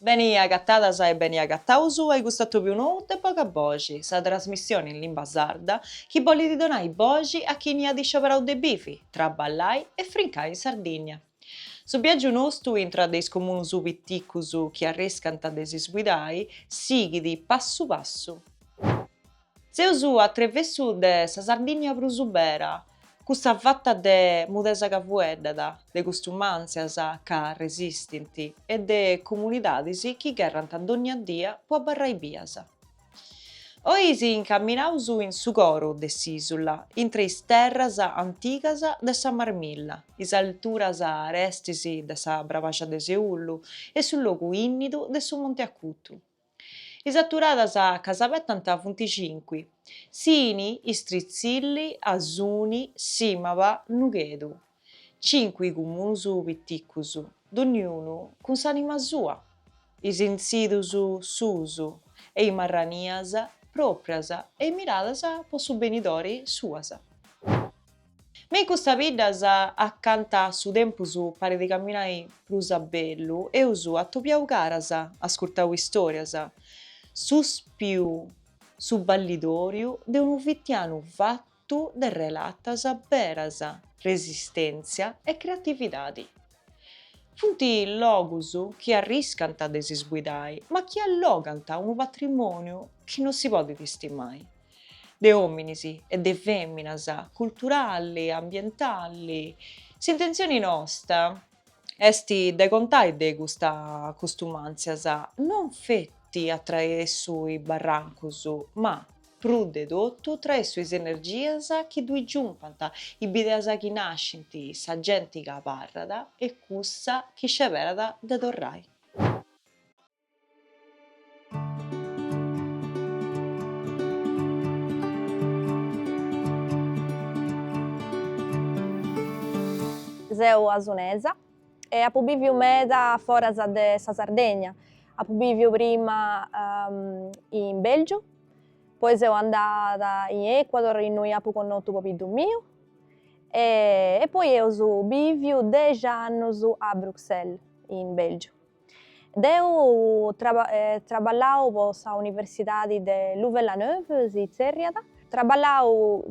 Beni agatadas e beni agataus a custu atòbiu nou de Boga Boxi, sa trasmissioni in limba sarda chi bolit donai boxi a chini at scioberau de bivi, traballai e frincai in Sardinnia. Su biagiu nostu intra de is comunus piticus chi arriscant de s'isguidai sighit passu passu. Seus a trevessu de sa Sardìnnia prus ubera, cussa fata de mudesa ca fueddat, de custumàntzias ca resistint e de comunidadis chi gherrant dònnia dia po abarrai bias. Oi si incaminaus in su coru de s'ìsula, intre is terras antigas de sa Marmilla, is alturas arestis de sa Brabaxa de Seullu e su logu ìnnidu de su Monte Acutu. Is aturadas ca s'abetant funt cinqui, Sini, Istritzilli, Asuni, Sìmaba, Nughedu. Cinqui cumunus piticus, donniunu cun s'anima sua. Is intzidus suus e is marranias pròprias e miradas po su benidori suas. Me in custas biddas acanta su tempus parit camminai prus a bellu, eus atobiau caras, ascurtau istorias, suspiu su ballidoriu de unu fitianu fattu de relatas beras, resistentzia e creatividadi. Funt logus chi arriscant de s'isguidai ma chi allogant unu patrimoniu chi no si podit istimai. de òminis e de fèminas, culturali, ambientali, s'intentzioni nosta est de contai de custas custumàntzias non feti a traessu is barrancus ma, prus de totu, a traessu is energias chi ddus giumpant, is bideas chi nascint, sa genti chi abarrat e cussa chi sceberat de torrai. Seu asunesa e apu bìviu meda foras de sa Sardegna, apu bìviu prima in Belgiu, poi seu andada in Ecuador innui apu connotu pobiddu miu e poi eus bìviu dexi annus a Bruxelles in Belgiu Deu traballàu po sa universidadi de Louvain-la-Neuve, si tzerriat, traballàu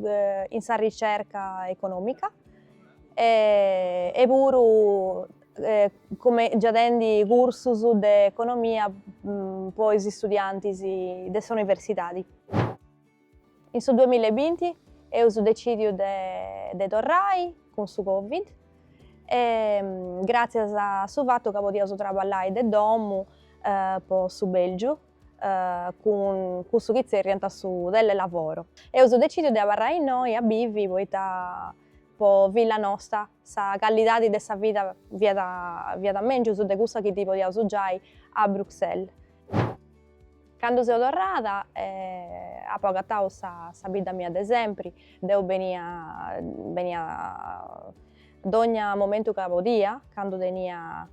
in sa ricerca economica e puru giaendi cursus de economia po is studiantis de sa universidadi. In su duamilla e binti eus decìdiu de torrai cun su Covid e gràtzias a su fatu ca podiaus traballai de domu po su Bèlgiu cun cussu chi tzerriant su telelavoro, eus decìdiu de abarrai innoi a bivi, poita po filla nosta sa callidadi de sa vida fiat fiat mèngius de cussa chi ddi podiaus giai a Bruxelles. Candu seu torrada apo agatau sa sa bidda mia de sempri, deu benia benia dogna momentu ca podia, candu tenia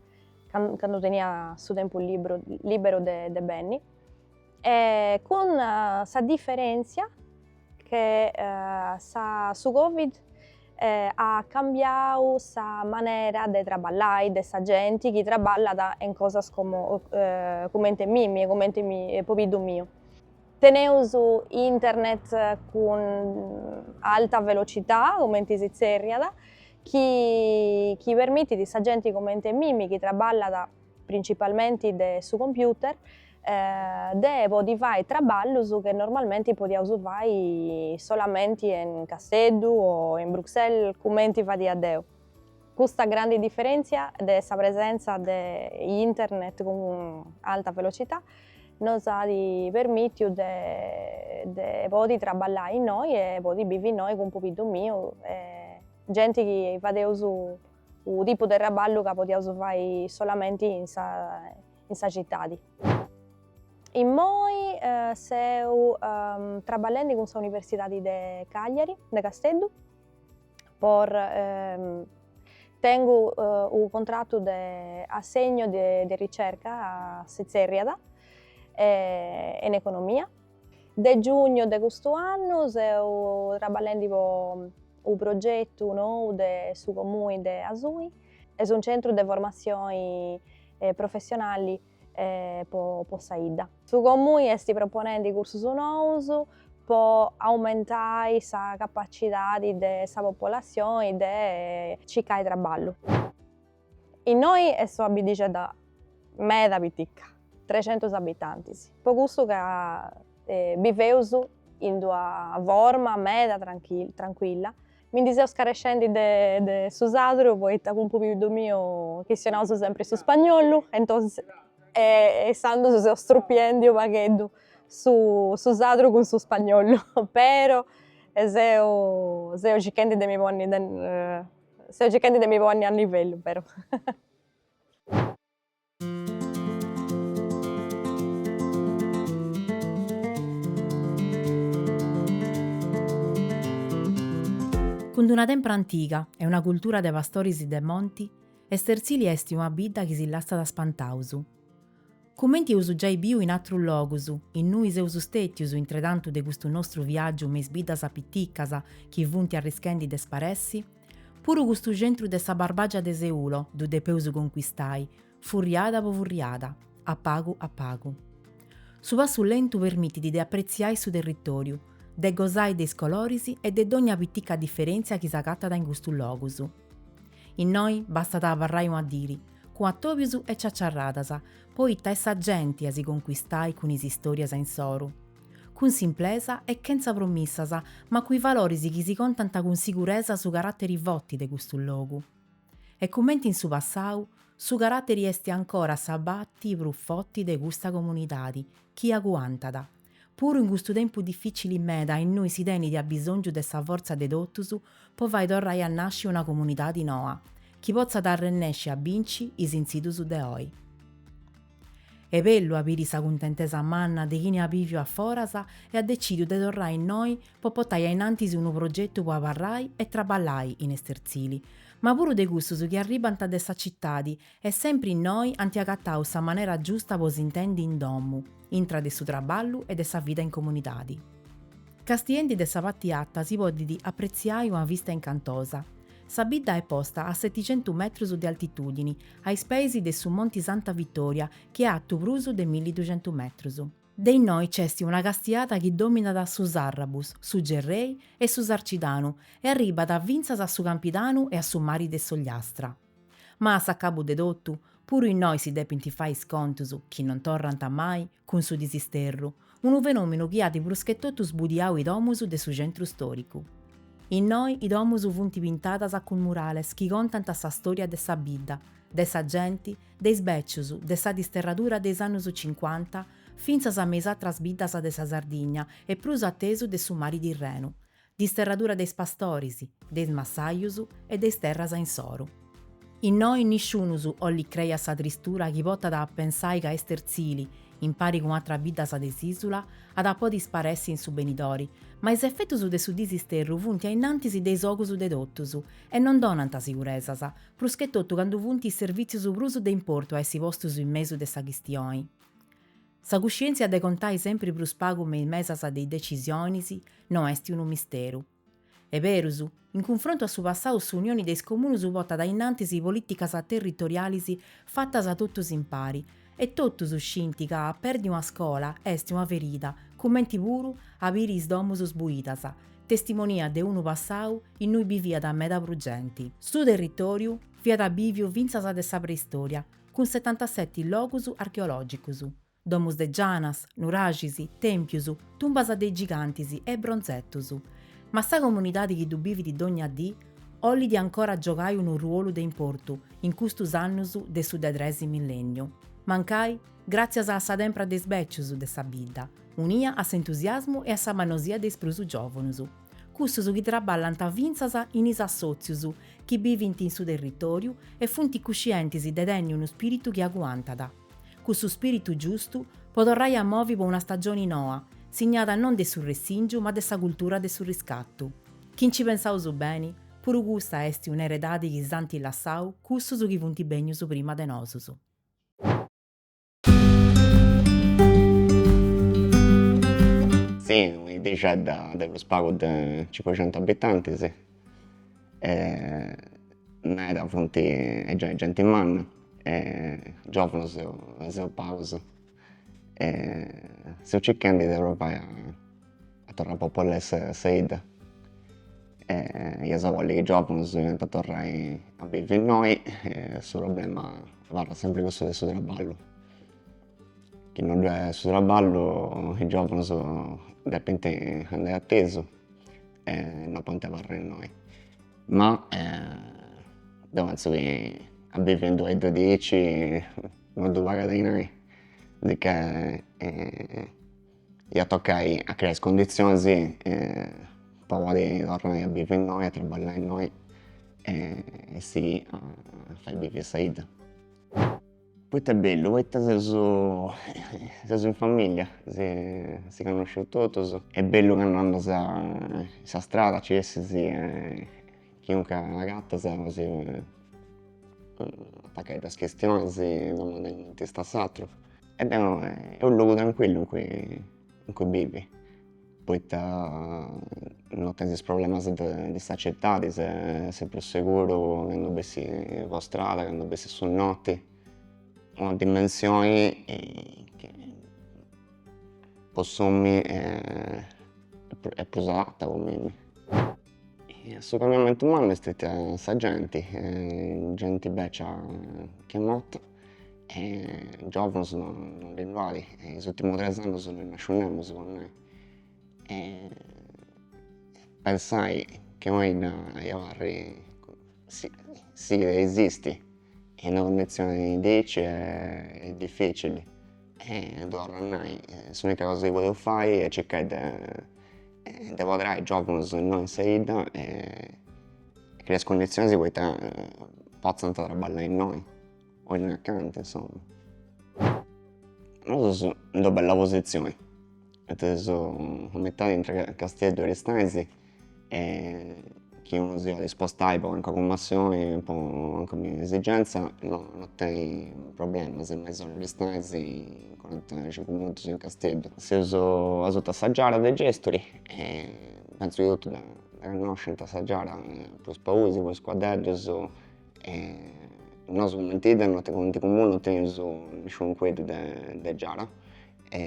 candu tenia su tempus libru liberu de de benni e cun sa differenzia che sa su Covid at cambiau sa manera de traballai de sa genti chi traballat in cosas como comente mimi e comente pobiddu miu. Teneus internet cun alta velocità, comenti si tzerriat, chi chi permitit sa genti comente mimi chi traballat principalmenti de su computer, de podi fai traballus che normalmenti podiaus fai solamenti in Casteddu o in Bruxelles cumenti fadia deu. Custa grandi diferentzia de sa presenza de internet cun alta velocità nos at permitiu de de podi traballai innoi e podi bivi innoi cun pobiddu miu e genti chi fadeus U tipu de traballu ca podiaus fai solamenti in sa in sa citadi. Immoi seu traballendi cun sa Universidadi de Cagliari, de Casteddu, por tengu u contratu de assegno de de ricerca si tzerriat in economia. De giugnu de custu annu seu traballendi po u progetu nou de su Comuni de Asuni est un centru de formatzioni professionali po sa 'idda. Su Comuni est proponendi cursus nous po aumentai sa capacidadi de sa popolatzioni de circai traballu. Innoi est una biddixedda meda piticca, trecentus abitantis, po cussu ca biveus in d'una forma meda trancuilla, mi ndi seu scarescendi de de su sardu poita cun pobiddu miu chistionaus sempri su spagnollu e e intzandus seu strupiendi u' pagheddu su su sardu cun su spagnollu, però seu circhendi de mi ponni de Seu circhendi de mi ponni a nivellu però. Cun d'una tempra antiga e una cultura de pastoris de monti, Esterzili esti una bidda chi si lassat spantaus. Cumenti eus giai biu in atrus logus, innui seus stètius intretantu de custu nostru viàgiu me is biddas piticas chi funt arrischendi de sparessi, puru custu centru de sa Barbàgia de Seulo ddu depeus concuistai, furriada po furriada, a pagu a pagu. Su passu lentu permitit de apretziai su territòriu, de gosai de is coloris e de dònnia pitica diferèntzia chi s'agatat in custus logus. Innoi bastat a abarrai una diri, cun atobius e ciaciarradas, poita est sa genti a si concuistai cun is istorias insoru. Cun simplesa e chentza promissas, ma cun is valoris chi si contant cun siguresa su carateri foti de custu logu. E cumenti in su passau, su carateri esti ancora sa pati prus foti de custa comunidadi chi aguantat. Puru in custu tempus dificili meda innui si tenidi abisongiu de sa forza de totus po fai torrai a nasci una comunidadi noa chi potzat arrennesci a binci is intzidus de oi. Est bellu a biri sa cuntentesa manna de chini at biviu a foras e at decidiu de torrai innoi po potai ainantis unu progetu po abarrai e traballai in Esterzili, ma puru de cussus chi arribant de sa citadi E sempri innoi ant agatau sa manera giusta po s'intendi in domu, intra de su traballu e de sa vida in comunidadi. Castiendi de sa pati ata si podit apretziai una vista incantosa. Sa bidda est posta a seticentu metrus de altitudini, a is peis de su Monti Santa Vittoria chi est atu prus de milli duxentu metrus. De innoi nc'est una castiada chi dominat su Sarrabus, su Gerrei e su Sarcidanu e arribat fintzas a su Campidanu e a su mari de s'Ogliastra. Ma a s'acabu de totu, puru innoi si depint fai is contus chi non torrant mai cun su disisterru, unu fenòminu chi at pruschetotu sbudiau i domus de su centru stòricu. Innoi i domus funt pintadas cun murales chi contant sa stòria de sa bidda, de sa genti, de is bècius, de sa disterradura de is annus cincuanta, fintzas me is atras biddas de sa Sardigna e prus a tesu de su mari Tirrenu, Disterradura de is pastoris, de is massajus e de is terras insoru. Innoi nisciunus 'ollit crei a sa tristura chi potat a pensai ca Esterzili, impari cun atras biddas de s'isula, at a podi sparessi in su benidori, ma is efetus de su disisterru funt a innantis de is ogus de totus e non donant siguresas, pruschetotu candu funt is servìtzius prus de importu a essi postus in mesu de sa chistioni. Sa cuscièntzia de contai sempri prus pagu me is mesas de is decisionis no est unu misteru. Est berus, in cunfrontu a su passau s'Unioni de is Comunus potat a innantis polìticas territorialis fatas a totus impari e totus scint ca perdi una scola est una ferida cumenti puru a biri is domus sbuidas, testimonia de unu passau innui biviat meda prus genti. Su territòriu fiat bìviu fintzas de sa preistòria, cun setantaseti logus archeològicus, domus de gianas, nuraxis, tèmpius, tumbas de is gigantis e bronzetus. Ma sa comunidadi chi ddu bivit dogna dì ollit ancora giogai unu ruolu de importu in custus annus de su de tres millènniu, mancai gràtzias a sa tempra de is bècius de sa bidda, unia a s'entusiasmu e a sa mannosia de is prus giòvunus. cussus chi traballant fintzas in is assòtzius chi bivint in su territòriu e funt cuscientis de tenni unu spìritu chi aguantat, cussu spìritu giustu, po torrai a movi po una stagioni noa, signada non de su ressìngiu ma de sa cultura de su riscatu. Chi nci pensaus beni, puru custa est un'eredadi chi s'ant lassau cussus chi funt bènnius prima de nosus. Si, una 'iddixedda de prus pagu de cincucentu abitantis e meda funt genti manna e giòvunos seus pagus e seus circhendi de probai a torrai a popolai sa 'idda e iaus a bolli chi giòvunos iant a torrai a bivi innoi e su problema Abarrat sempre cussu de su traballu, chi non ddoi est su traballu e is giòvanos depint andai a tesu e non podint abarrai innoi, ma deu pentzu chi a bivi in d'una 'idda diaici non ddu pagat dinai, sicchè Iat tocai a creai is conditzionis po podi torrai a bivi innoi, a traballai innoi e sighì a fai bivi a sa 'idda. Poita est bellu? Poita seus seus in familia, si connoscius totus, est bellu candu andas in sa strada nci essis chiuncas agatas si atacai duas chistionis domandai cumenti istat s'aturu E est unu logu trancuillu in cui bivi, poita no tenis is problemas de de sa citadi, ses prus seguru candu bessis po strada, candu bessis su noti, una dimensioni chi po s'omini est prus adatta po mimmi Su cambiamentu mannu est steti sa genti, genti becia chi est morta e giovanus non ddui nd'at, in is ultimus tres annus non nd'at nàsciu nemus po nai e pensai che una bidda aici abarrit sighit a esisti in una cundizioni de aici est difficili E torra a nai, s'unica cosa chi podeus fai est circai de de apoderai giòvunus innoi in sa 'idda e creai is cunditzionis poita potzant trabballai innoi o innoi acanta insomma nosu seus in d'una bella positzioni poita seus a mitadi intre Casteddu e Aristanis e chi unu siat dispostu a andai po calincuna cummissioni po calincuna esigenza no no tenit problemas, in mesora Aristanis, in cuaranta e cincu minutus in Casteddu. Seus asutu a sa giara de Gesturi e pentzu chi totu dda connoscint sa giara e po is pauis, po is cuaddeddus e nosu cumenti 'idda no cumenti comunu no tenius nisciunu cuaddeddu de de giara e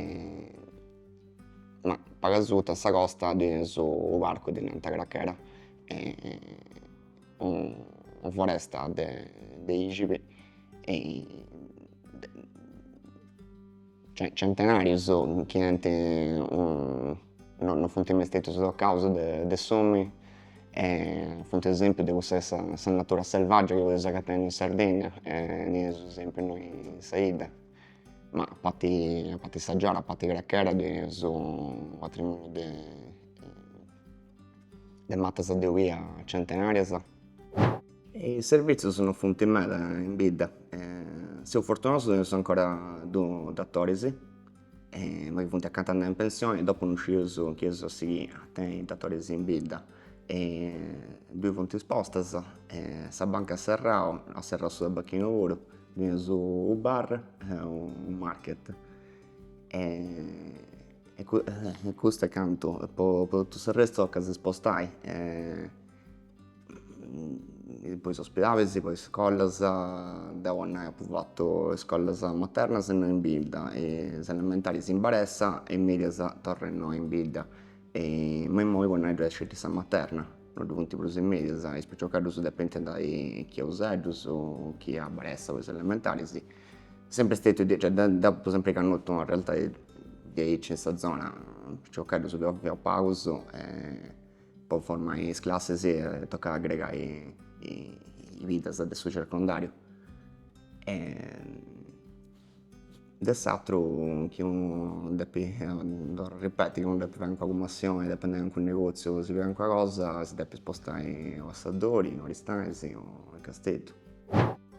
Ma pagu asuta in sa costa ddui teneus unu parcu chi ddi nant Crachera est una foresta de de ìxibis centenàrius chi ant no no funt mai stètius tocaus de de s'omini e funt esempiu de cussa essa sa natura selvaggia chi podius agattai innoi in Sardegna e ndi teneus esempiu innoi in sa 'idda Ma a parti a parti sa giara a parti Crachera teneus su patrimoniu de de mattas de olia centenarias. Is servizius no funti meda in bidda seus fortunaus ca teneus ancora duus datoris ma chi funti accanta de andai in pensioni dopu no sciu chi eus a sighiri a tenni datoris in bidda dui funt is postas sa banca at serrau at serrau su tabacchinu puru Teneus u bar e u market e custu est cantu po totu s'arrestu tocat a si spostai e po is ospidalis po is scollas deu po nai apu fatu iscollas maternas innoi in bidda e is elementaris in Baressa e is medias torra innoi in bidda e ma immoi po nai ddu est sceti sa materna No ddu funt prus is mèdias is piciocheddus depenti andai chi a Useddus chi a Baressa po is elementaris. Est sempri stetiu diaici, cioè deu apu sempri cannotu una realtadi diaici in sa zona, piciocheddus chi fiaus pagus e po formai is classis tocat a agregai is biddas de su circondariu De s'ateru chi unu depi ripeti, chi unu depi fai calincuna cummissioni, depi andai a calincunu negoziu, si calincuna cosa si depi spostai a Seddori, in Aristanis o a Casteddu.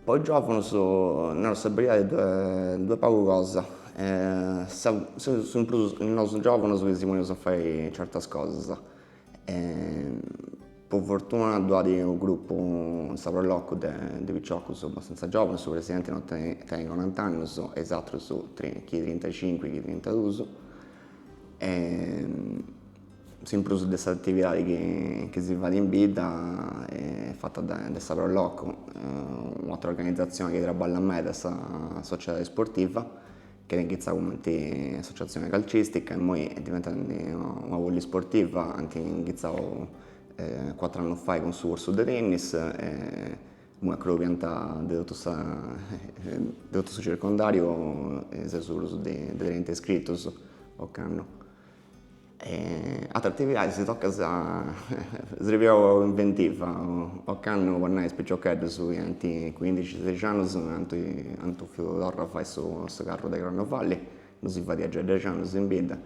Po is giovunus naru sa beridadi ddu at pagu cosa, seus in prus nosu giovunus chi si ponius a fai certas cosas, E po fortuna ddu at unu grupu in sa Pro Locu de de piciocus abbastanza giovanus, su presidenti no tenit tenit corant'annus e is atrus trin chi trintacincu chi trintaduus e s'in prus de s'atividadi chi chi si fait in bidda est fata de de sa Pro Locu, u' atera organizatzioni chi traballat meda est sa sociedadi sportiva Chi at inchitzau cumenti associatzioni calcistica immoi est diventada una polisportiva, ant inchitzau cuatru annus fai cun su cursu de tennis e immoi acollit genti de totu sa de totu su circondariu seus prus de trenta iscritus ocannu. E ateras atividadis tocat a sribiri inventiva, ocannu po nai is piciocheddus chi ant cuindixi seixi annus ant ant bofiu torrai a fai su su carru de carnevali, no si fadia giai dexi annus in bidda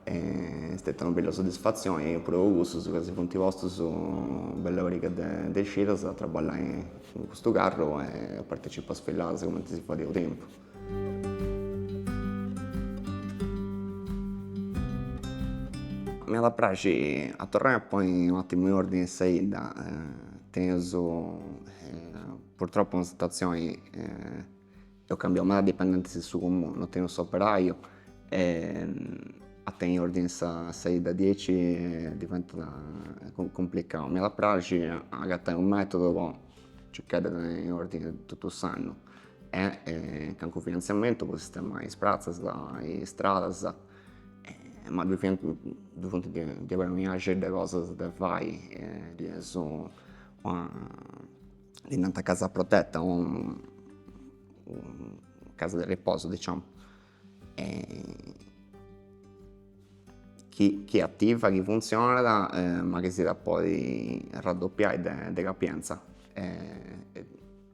e est stetia una bella soddisfatzioni puru po cussus ca si funt postus una bella pariga de de cidas a traballai in custu carru e a partecipai a is isfiladas cumenti si fadia u' tempus Mi at a praxi a torrai a ponni u' attimu in ordini in sa idda tenius purtroppu una situazzioni eus cambiau meda dipendentis in su comunu no tenius s'operaiu e a tenni in ordini sa idda diaici diventat cumplicau mi at a praxi agattai u' metodu po circai de tenni in ordini tottu s'annu e calincunu finantziamentu po sistemai is pratzas e is stradas ma ddu fiant ddu funt diaderu una miriade de cosas de fai ddu est una ddi nant casa protetta o casa de riposu diciamu chi chi ativa chi funtzionat ma chi si iat a podi arraddoppiai de capienza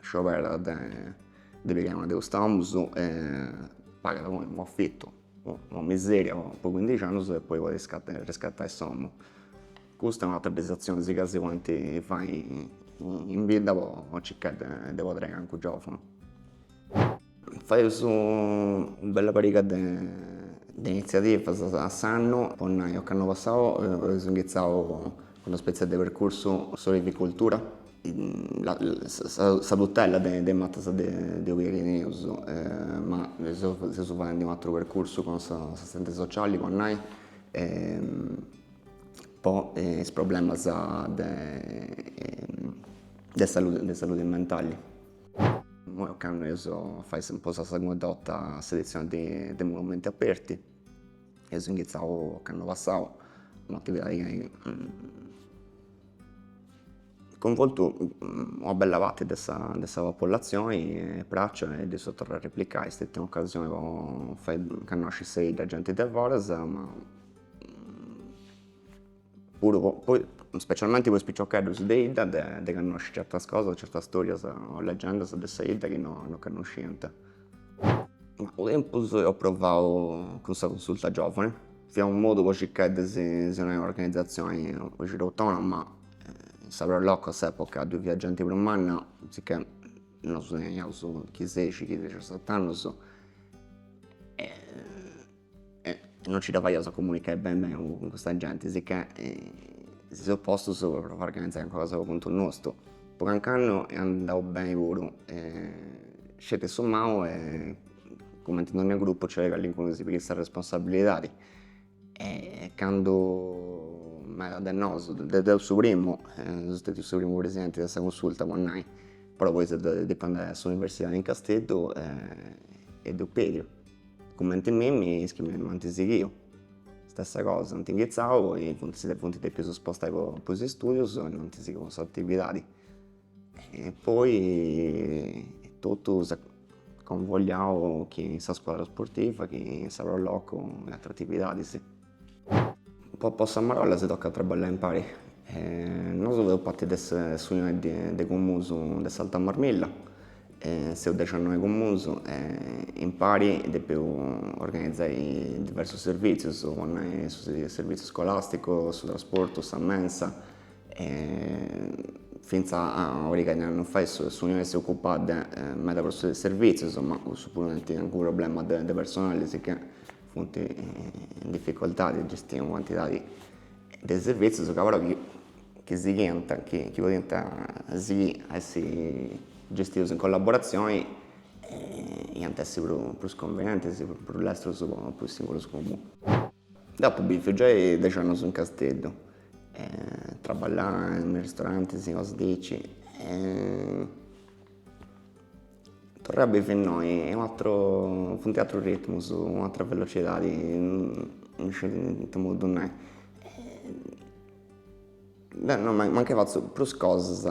Scioberat de de pigai una de custas domus e pagat unu unu afitu, una miseria po cuindixi annus e poi podit riscattai s'omu. Custa è un'atera de is atzionis chi si podint fai in bidda po circai de podrai calincunu giovunu. Faeus u bella pariga de de inizziativas a s'annu, po nai ocannu passau eus inghitzau una spetzi'e de percursu de olivicultura, sa tutella de is matas de de olia chi teneus ma seus faendi un'ateru percursu cun s'assistenti sociali po nai po is problemas de de saludi mentali Imoi candu eus a fai sa po sa segunda 'orta s'edizioni de de Monumenti Aperti eus inghitzau ocannu passau un'atividadi chi at cunvoltu una bella parti de sa de sa popullatzioni est praxa e dd'eus torrau a replicai est stetia un'ocasioni po fai connosci sa 'idda a genti de foras ma puru po specialmenti po is piciocheddus de idda de connosci certas cosas, certas storias o leggendas de sa idda chi no no connosciant. Ma u tempus eus provau cun sa Consulta Giovani, fiat unu modu po circai de si si donai una organizatzioni diaici autonoma, in sa pro loco a s'epoca ddu fiat genti prus manna, sicchè nosu teniaus chi seixi chi dexaset'annus e E non nci dda faiaus a comunicai beni beni cun custa genti, sicchè si seus postus po s'organizai a contu nostu. Po canc'annu est andau beni puru, sceti ca insomma cumenti in dogna gruppu nc'est callincunu chi si pighiat sa responsabilidadi e candu meda de nosu, de deu su primu, seu stètiu su primu presidenti de sa Cunsulta po nai, però poi seu depiu andai a s'universidadi in Casteddu e deu apu perdiu Cumenti a mimi is chi m'ant sighiu. Stessa cosa, ant inghitzau poi funt si funt depius spostai po po is studius e no ant sighiu s'atividadi. E poi totu s'est convogliau chi in sa scuadra sportiva chi in sa pro loco e atr'atividadis. Po po sa marolla si tocat a traballai impari e nosu feus parti de s'unioni de is comunus de s'Alta Marmilla e seus dexannoe comunus e impari depeus organizai diversus servizius po nai su serviziu scolasticu su trasportu sa mensa e finza a oi ca non fait s'unione si ocupat meda po is servizius ma cussu puru est unu problema de personali sicchè Funt in dificoltadi a gestiri una cantidadi de servìtzius ca però chi sighiant, chi podiant sighì a essi gestius in collaboratzioni iant essi prus cunvenientis, prus lestrus po is singulus comunus. Deu apu biviu giai dexi annus in Casteddu, traballàt in ristorantis, cosas diaici e Torrai a bivi innoi est un'atru funt atrus ritmus un'atra velocidadi non isciu 'e itte modu nai deh no mancai fatzu prus cosas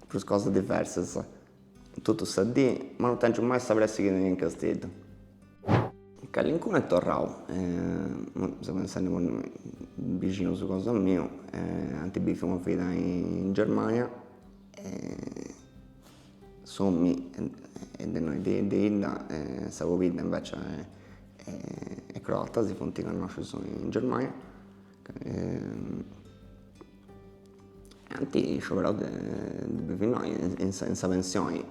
prus cosas diversas totu sa dì ma non tengiu mai sa pressi chi tenia in Casteddu calincunu est torrau seu pensendi po nai bixinus cosa miu ant biviu una vida in Germania S'omini est de innoi de bidda sa pobidda invece est croata si funt connoscius in Germania e ant scioberau de bivi innoi in sa in sa pensioni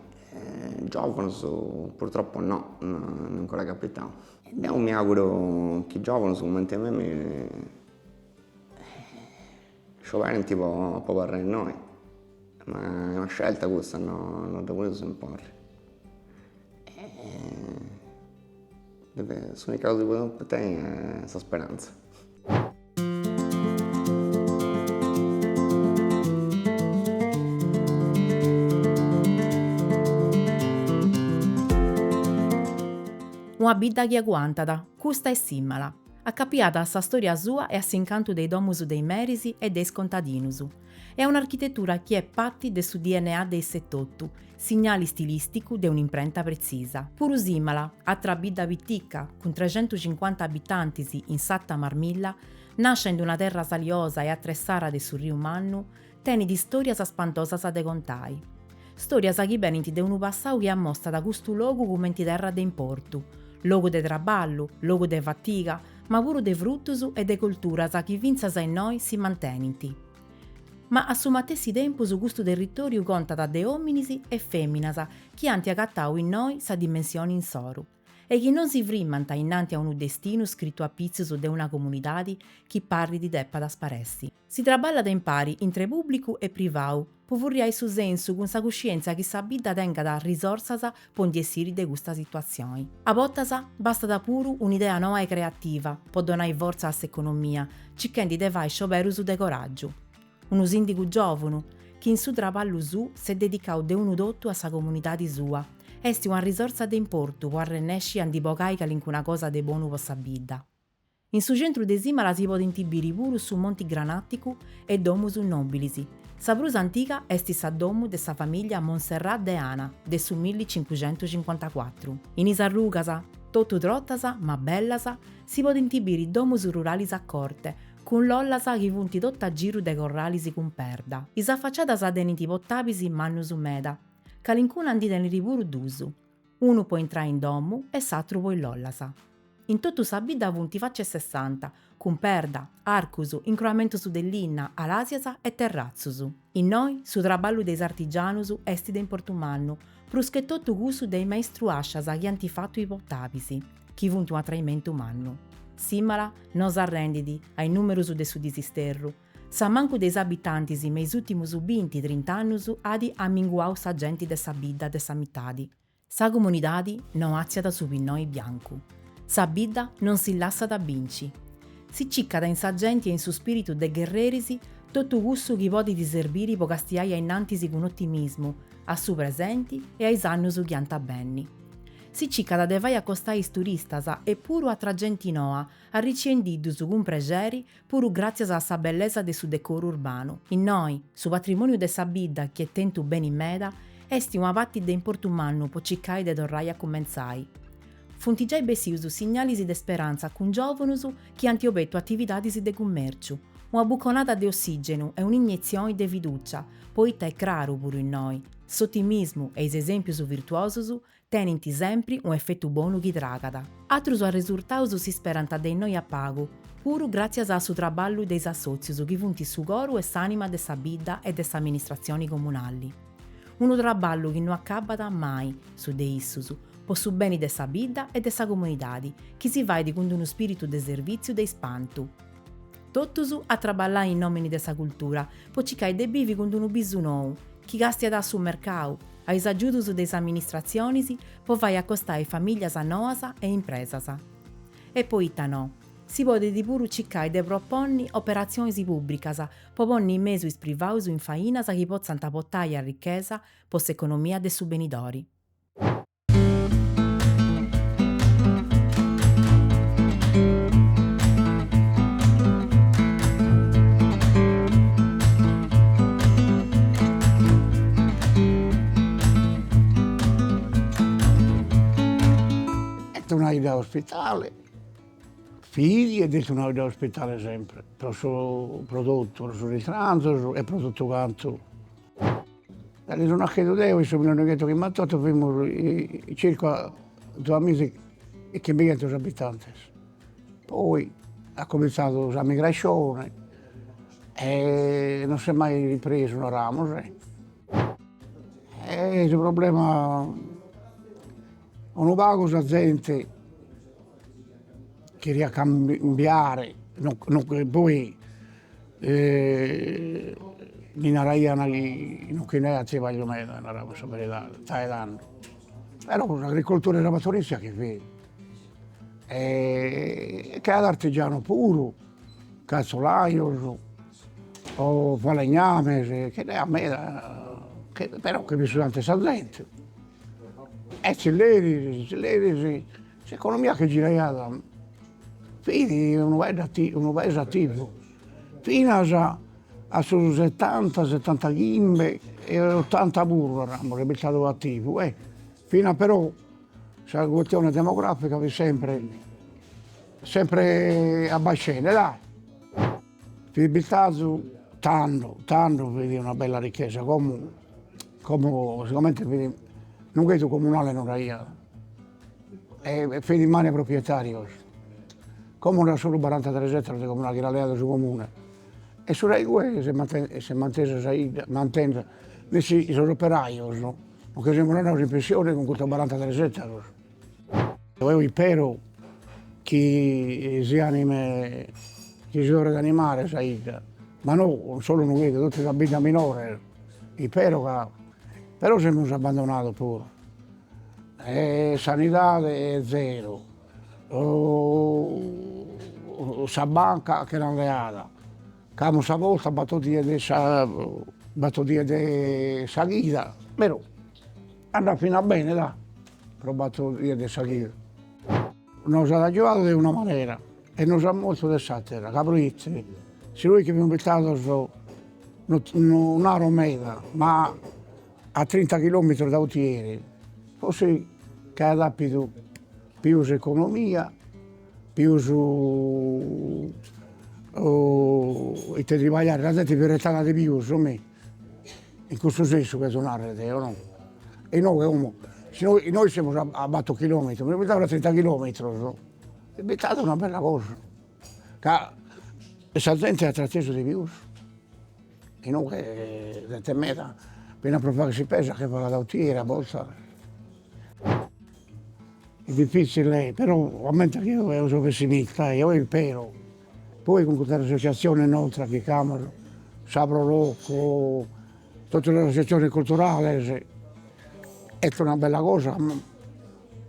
giovunus purtroppu no no ancora est capitau e deu mi auguru chi giovunus cumenti a mimi Scioberint de abarrai innoi, ma est una scelta cussa, no dda podeus imponni. S'unica cosa chi podeus tenni est sa speranza. Una bidda chi aguantat, custa est Simala. Acapiada a sa stòria sua e a s'incantu de is domus de is meris e de is contadinus. E a un'architetura chi est parti de su DNA de issa etotu, signali stilìsticu de un'imprenta pretzisa. Puru Simala, atra bidda pitica, cun trexentucincuanta abitantis in s'Arta Marmilla, nascia in una terra saliosa e atressada de su Riu Mannu, Tenit stòrias spantosas de contai. Stòrias chi benint de unu passau chi ammostat custu logu cumenti terra de importu, logu de traballu, logu de fatiga, ma puru de frutus e de colturas chi fintzas innoi si mantenint. Ma a su matessi tempus custu territòriu contat de òminis e fèminas chi ant agatau innoi sa dimensioni insoru e chi non si frimant innanti a unu destinu scritu apitzus de una comunidadi chi parrit depat sparessi. Si traballat impari intre pùblicu e privau po furriai su sensu cun sa cuscièntzia chi sa bidda tengat risorsas po ndi essiri de custa situatzioni. A bortas bastat puru un'idea noa e creativa po donai fortza a s'economia circhendi de fai scioberus de coràgiu. Unu sìndigu giòvunu chi in su traballu suu s'est dedicau de unu totu a sa comunidadi sua est una risorsa de importu po arrennèsci a ndi bogai calincuna cosa de bonu po sa bidda. In su centru de Simala si podint biri puru su Monti Granàticu e domus nòbilis. Sa prus antiga est sa domu de sa famìllia Monserrat de Ana de su milli cincucentus cincuantacuatru. In is arrugas, totu trotas ma bellas, si podint biri domus ruralis a corti, cun lollas chi funt totu a giru de corralis cun perda. Is afaciadas tenint potabis mannus meda, calincuna ndi tenit puru duus. Unu po intrai in domu e s'atru po is lollas. In totu sa bidda funt faci a sessanta, cun perda, arcus, incroamentus de linna, alasias e terratzus. Innoi su traballu de is artigianus est de importu mannu, pruschetotu cussu de is maistruascias chi ant fatu is potabis, chi funt u' atraimentu mannu. Simala no s'arrendit a is numerus de su disisterru, S'ammancu de is abitantis me is ùtimus binti, trinta annus at amminguau sa genti de sa bidda de sa mitadi. Sa comunidadi no artziat su pinnoi biancu. Sa bidda non si lassat binci. Si cicat in sa genti e in su spìritu de gherreris totu cussu chi podit serbiri po castiai ainnantis cun otimismu a su presenti e a is annus chi ant a benni. Si cicat de fai acostai is turistas e puru atra genti noa, arriciendi-ddus cun prexeri puru gràtzias a sa bellesa de su decoru urbanu. Innoi, su patrimòniu de sa bidda chi est tentu beni meda, est una parti de importu mannu po cicai de torrai a cumentzai. Funt giai bessius signalis de speranza cun giòvanus chi ant obetu atividadis de cummèrciu, una buconada de ossìgenu e un'inietzioni de fidùcia, poita est craru, puru innoi, s'otimismu e is esèmpius virtuosus tenint sempri un'efetu bonu chi tragat. Atrus arresurtaus si sperant de innoi a pagu, puru gràtzias a su traballu de is assòtzius chi funt su coru e s'ànima de sa bidda e de s'amministratzioni comunali. Unu traballu chi no acabat mai, su de issus, po su beni de sa bidda e de sa comunidadi, chi si fait cun d'unu spìritu de servìtziu de ispantu. Totus a traballai in nòmini de sa cultura, po cicai de bivi cun d'unu bisu nou, chi castiat a su mercau, a is agiudus de is amministratzionis po fai acostai famìllias noas e impresas. E poita no, si podit puru cicai de proponni operatzionis pùbricas po ponni in mesu is privaus in fainas chi potzant potai arrichesa po s'economia de su benidori. Est una 'idda ospitale, fit ed est una 'idda ospitale sempre, pro su, pro tottu, pro sos istranzos e pro totu cantu Cando so naschidu deo in su millinoighentos chimbantotto fimus circa duamiza e chimbighentos abitantes, poi at comintzadu sa migrascione e non s'est mai ripresu naramus est su problema unu pagu sa zente Cheriat cambiare poi mi naraian chi non che nd'aiat tribagliu meda, naramus sa beridade, dae tando, però s'agricoltura e sa pastorizia chi fit e ch'aiat artigianos puru, calzolajos o falegnames, che nd'aiat meda, però chi pisusant sa zente e zilleris, zilleris S'economia che giraiat fit unu paeddu unu paese attivu finas a su setanta setanta chimbe e ottanta puru naramus est bistadu attivu e finas però sa custione demografica fit sempre sempre abbascende dai Fit bistadu tando tando fit una bella ricchesa como como sigomente fit Nughedu comunale no nd'aiat e fit in manu 'e proprietarios, como nd'at solu barantatres ettaros de comunale chi l'at leadu su comune e su rai igue s'est mantesa s'est mantesa sa 'idda mantende nessi sos operajos nos che semus andados in pensione cun custos barantatres ettaros Deo isperu chi si anime, chi si torret a animare sa 'idda, ma no solu Nughedu, totu sas biddas minores, isperu ca, però semus abbandonados puru e sanidade zero sa banca che l'an leada Ch'amus sa posta bator dies de sa bator dies de sa chida, però andat finas bene dai, però bator dies de sa chida. Nos at agiuadu de una manera e nos at mortu de s'àtera, ca proite si nois che fimus bistados, no no naro meda, ma a trinta chilòmetros da Otieri, forsis ch'aiat àpidu pius economia Pius ite tribagliare, sa zente fit restada de pius mi, in custu sensu cherzo narrer deo no, inoghe como si nois, nois semus a a battor chilometros, fimus bistados a trinta chilometros, est bistada una bella cosa, ca sa zente at tratesu de pius Inoghe zente meda finas pro fagher s'ispesa che falat a Otieri a bortas est difizzile però comente chi eo eo so pessimista eo ispero poi cun custas associaziones nostras chi ch'amus sa pro loco totu sas associaziones culturales est una bella cosa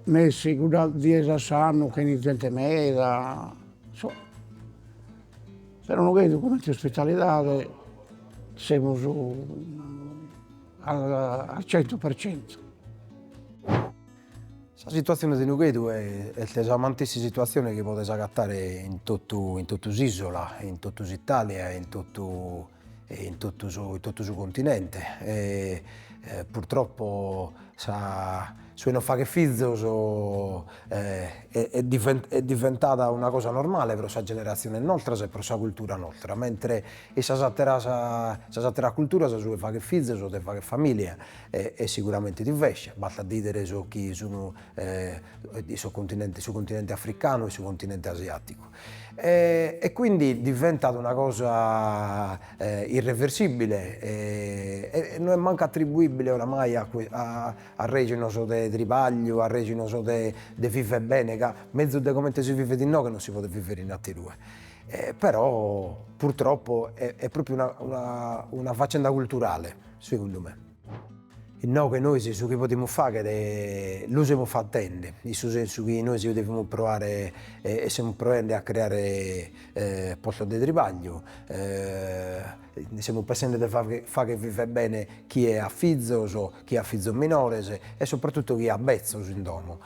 nessi cuddas dies a s'annu che 'enit zente meda insomma Però Nughedu comente ospitalidade semus al cento per cento. Sa situatzione de Nughedu est sa matessi situatzione chi podes agatare in totu in totu s'isola, in totu s'Italia e in totu e in totu su in totu su continente e purtroppo sa Su 'e non fagher fizos est diventada una cosa normale pro sas generatziones nostras e pro sa cultura nostra, mentres in sas atteras sas atteras culturas su 'e fagher fizos o de fagher familia est siguramente diversu, bastat a bìdere sos chi sun sos continente su continente africanu e su continente asiaticu e quindi diventat una cosa irreversibile e no est mancu attribuibile oramai a A rejones de tribagliu, a rejones de de viver bene, ca mezus de comente si vivet inoghe non si podet viver in atterue, e però purtroppo e est propriu una una una faccenda culturale segundu me. Inoghe nois su chi podimus faghere lu semus fattende, in su sensu chi nois devimus proare e e semus proende a creare e postos de tribagliu semus pensende de fagher viver bene chie at fizos, chi at fizos minores e sopratutto chi at bezzos in domo,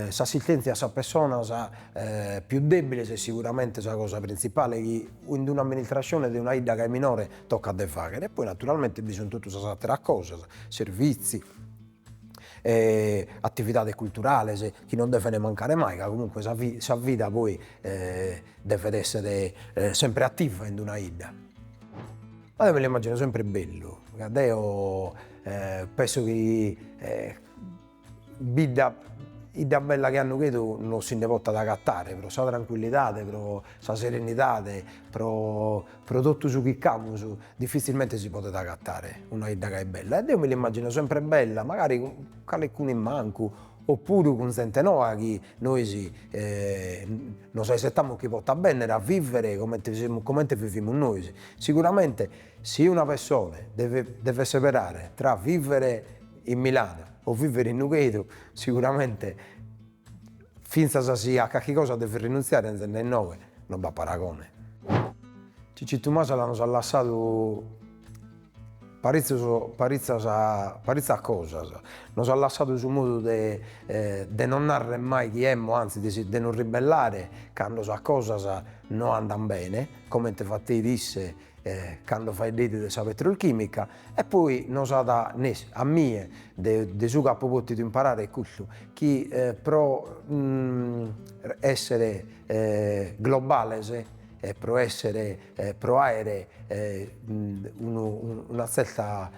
s'assistentzia a sas pessonas pius debiles est siguramente sa cosa printzipale chi in un'amministrascione de una 'idda chi est minore toccat de fagher e poi naturalmente bi sun totu sas atteras cosas, servizi e attividades culturales chi non deven mancare mai ca comunque sa sa vida poi devet esser sempre attiva in una 'idda. Eo mi l'immagino sempre bellu ca deo Penso chi bidda 'idda bella che a Nughedu no si nde potat agatare pro sa trancuillidade, pro sa serenidade, pro pro totu su chi ch'amus diffizzilmente si podet agatare una 'idda gai bella e deo mi l'immagino sempre bella, magari cun calecunu in mancu o puru cun zente noa chi nois nos aisetamus chi potat benner a vivere comente semus comente vivimus nois, siguramente Si una pessone devet seberare tra vivere in Milano o vivere in Nughedu, siguramente fintzas si a carchi cosa devet rinuntziare 'enzende innoe non b'at paragone. Cicitu Masala nos at lassadu paritzus paritzas paritzas cosas, nos at lassadu su modu de de non narrer mai chi emmo anzi de si de nos ribellare cando sas cosas no andan bene, comente fateit isse cando faeddeit de sa petrolchimica e poi nos at a mie de su chi apo potidu imparare est custu chi pro essere globales e pro essere pro aere una zerta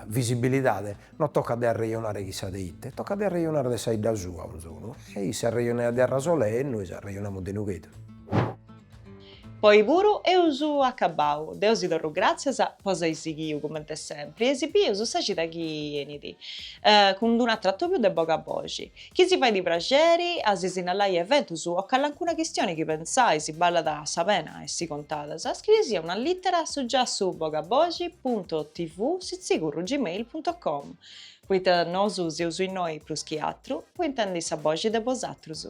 visibilidade non tocat de arrejonare chissà de ite, tocat de arrejonare de sa 'idda sua 'onzunu e isse arrejonaiat de Arasolè e nois arrejonamus de Nughedu Po oi puru eus acabbau. Deu si torru gràtzias po s'ai sighiu cumenti sempri e si bius sa cida chi enit, cun dd'unu atru atòbiu de boga boxi. Chi si fait praxeri a si sinnalai eventus o calancuna chistioni chi pentzais ballat sa pena a essi contada, scrieisì una lìtera a su giassu bogaboxi punto tv sitzigorru gmail punto com, poita nosu seus innoi prus chi atru po intendi sa boxi de bosatrus.